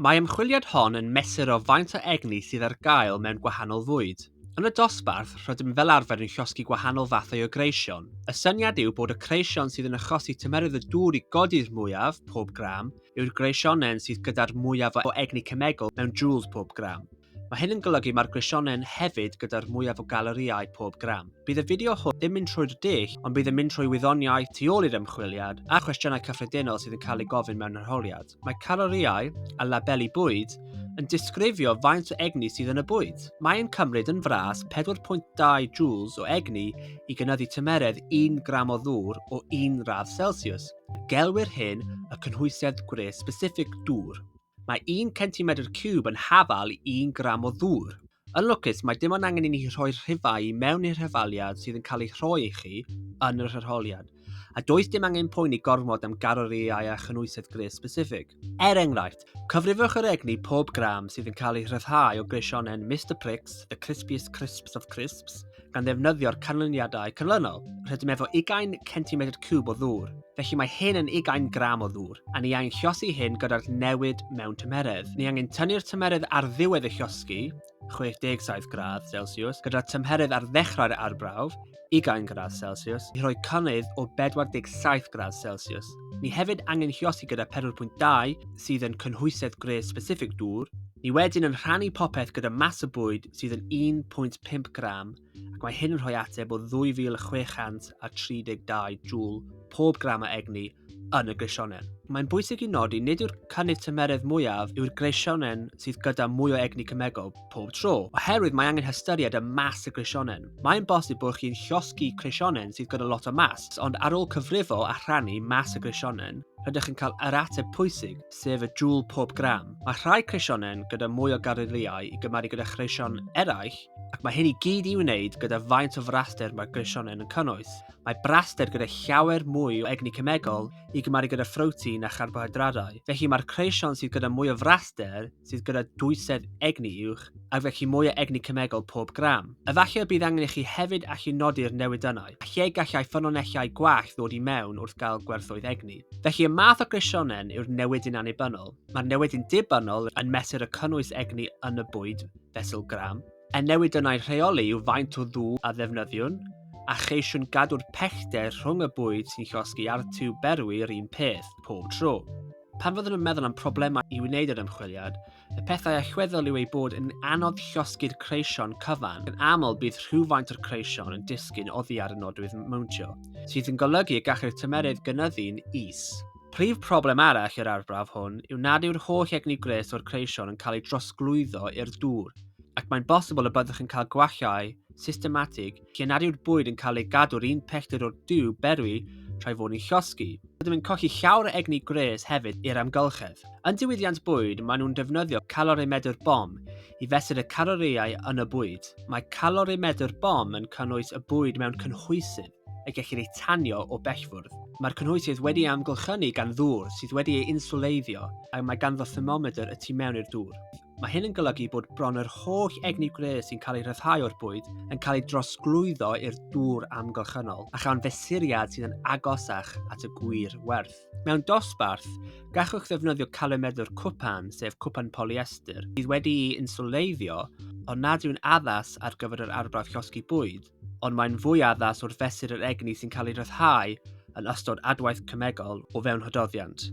Mae ymchwiliad hon yn mesur o faint o egni sydd ar gael mewn gwahanol fwyd. Yn y dosbarth, rydym fel arfer yn llosgi gwahanol fathau o greision. Y syniad yw bod y creision sydd yn achosi tymerydd y dŵr i godi'r mwyaf, pob gram, yw'r greisionau yn syth gyda'r mwyaf o egni cemegol mewn joules pob gram. Mae hyn yn golygu mae'r grisionen hefyd gyda'r mwyaf o galerïau pob gram. Bydd y fideo hwn ddim mynd trwy'r dull, ond bydd yn mynd trwy wyddoniaeth tu ôl i'r ymchwiliad a chwestiynau cyffredinol sydd yn cael eu gofyn mewn arholiad. Mae calorïau a labeli bwyd yn disgrifio faint o egni sydd yn y bwyd. Mae'n cymryd yn fras 4.2 joules o egni i gynyddu tymeredd 1 gram o ddŵr o 1 radd Celsius. Gelwir hyn y cynhwysiad gwres specific dŵr. Mae un centimedr ciwb yn hafal i un gram o ddŵr. Yn lwcus, mae dim ond angen i ni rhoi rhifau i mewn i'r hyfaliad sydd yn cael ei rhoi i chi yn yr hyrholiad, a does dim angen poeni gormod am galorïau a chynhwysedd gwres specifig. Er enghraifft, cyfrifwch yr egni pob gram sydd yn cael ei rhyddhau o greisionen Mister Pricks, the crispiest crisps of crisps, gan ddefnyddio'r canlyniadau canlynol. Rydym efo ugain centimetr cwb o ddŵr, felly mae hyn yn ugain gram o ddŵr, a ni angen llosi hyn gyda'r newid mewn tymheredd. Ni angen tynnu'r tymheredd ar ddiwedd y llosgi, 67 gradd Celsius, gyda'r tymheredd ar ddechrau'r arbrawf, ugain gradd Celsius, i roi cynnydd o 47 gradd Celsius. Ni hefyd angen llosi gyda 4.2 sydd yn cynhwysedd gwres specific dŵr, Ni wedyn yn rhannu popeth gyda mas y bwyd sydd yn 1.5 gram ac mae hyn yn rhoi ateb o 2,632 jŵl pob gram o egni yn y greisionen. Mae'n bwysig i nodi nid yw'r cynnydd tymeredd mwyaf yw'r greisionen sydd gyda mwy o egni cymegol pob tro, oherwydd mae angen hystyried y mas y greisionen. Mae'n bosib bod chi'n llosgi creisionen sydd gyda lot o mas, ond ar ôl cyfrifo a rhannu mas y greisionen, rydych yn cael yr ateb pwysig, sef y jwl pob gram. Mae rhai creisionen gyda mwy o gareiriau i gymaru gyda chreision eraill, ac mae hyn i gyd i wneud gyda faint o fraster mae'r greisionen yn cynnwys. Mae braster gyda llawer mwy o egni cemegol i gymaru gyda phrotein a charbohydradau, felly mae'r creision sydd gyda mwy o fraster sydd gyda dwysedd egni uwch, ac felly mwy o egni cemegol pob gram. Efallai y bydd angen i chi hefyd allu nodi'r newidynnau, a lle gallai ffynonellau gwell ddod i mewn wrth gael gwerthoedd egni. Felly y math o grisionen yw'r newidyn annibynnol. Mae'r newidyn dibynnol yn mesur y cynnwys egni yn y bwyd fesul gram. Y newidynnau rheoli yw faint o ddŵr a ddefnyddiwn, a cheisiwn gadw'r pellter rhwng y bwyd sy'n llosgi a'r tiwb berwi yr un peth pob tro. Pan fyddwn yn meddwl am problemau i wneud yr ymchwiliad, y pethau a chweddol yw ei bod yn anodd llosgi'r creision cyfan, yn aml bydd rhywfaint o'r creision yn disgyn oddi ar y nodwydd mowntio, sydd yn golygu y gallai'r tymerydd gynyddu'n is. Prif broblem arall i'r arbrawf hwn yw nad yw'r holl egni gwres o'r creision yn cael ei drosglwyddo i'r dŵr, ac mae'n bosibl y byddwch yn cael gwallau systematig lle nad yw'r bwyd yn cael ei gadw'r un pellter o'r diw berwi rhai fod yn llosgi. Rydym yn colli llawer o egni gwres hefyd i'r amgylchedd. Yn diwydiant bwyd, maen nhw'n defnyddio calorimedr bom i fesur y calorïau yn y bwyd. Mae calorimeddwr bom yn cynnwys y bwyd mewn cynhwysydd y gellir eu tanio o bellfwrdd. Mae'r cynhwysydd wedi ei amgylchynu gan ddŵr sydd wedi ei inswleiddio ac mae ganddo thermomedr y tu mewn i'r dŵr. Mae hyn yn golygu bod bron yr holl egni gwres sy'n cael ei rhyddhau o'r bwyd yn cael ei drosglwyddo i'r dŵr amgylchynol, a chawn fesuriad sydd yn agosach at y gwir werth. Mewn dosbarth, gallwch ddefnyddio calymedwr cwpan, sef cwpan polyester, sydd wedi'i insuleiddio, ond nad yw'n addas ar gyfer yr arbrawf llosgi bwyd, ond mae'n fwy addas wrth fesur yr egni sy'n cael ei ryddhau yn ystod adwaith cemegol o fewn hododdiant.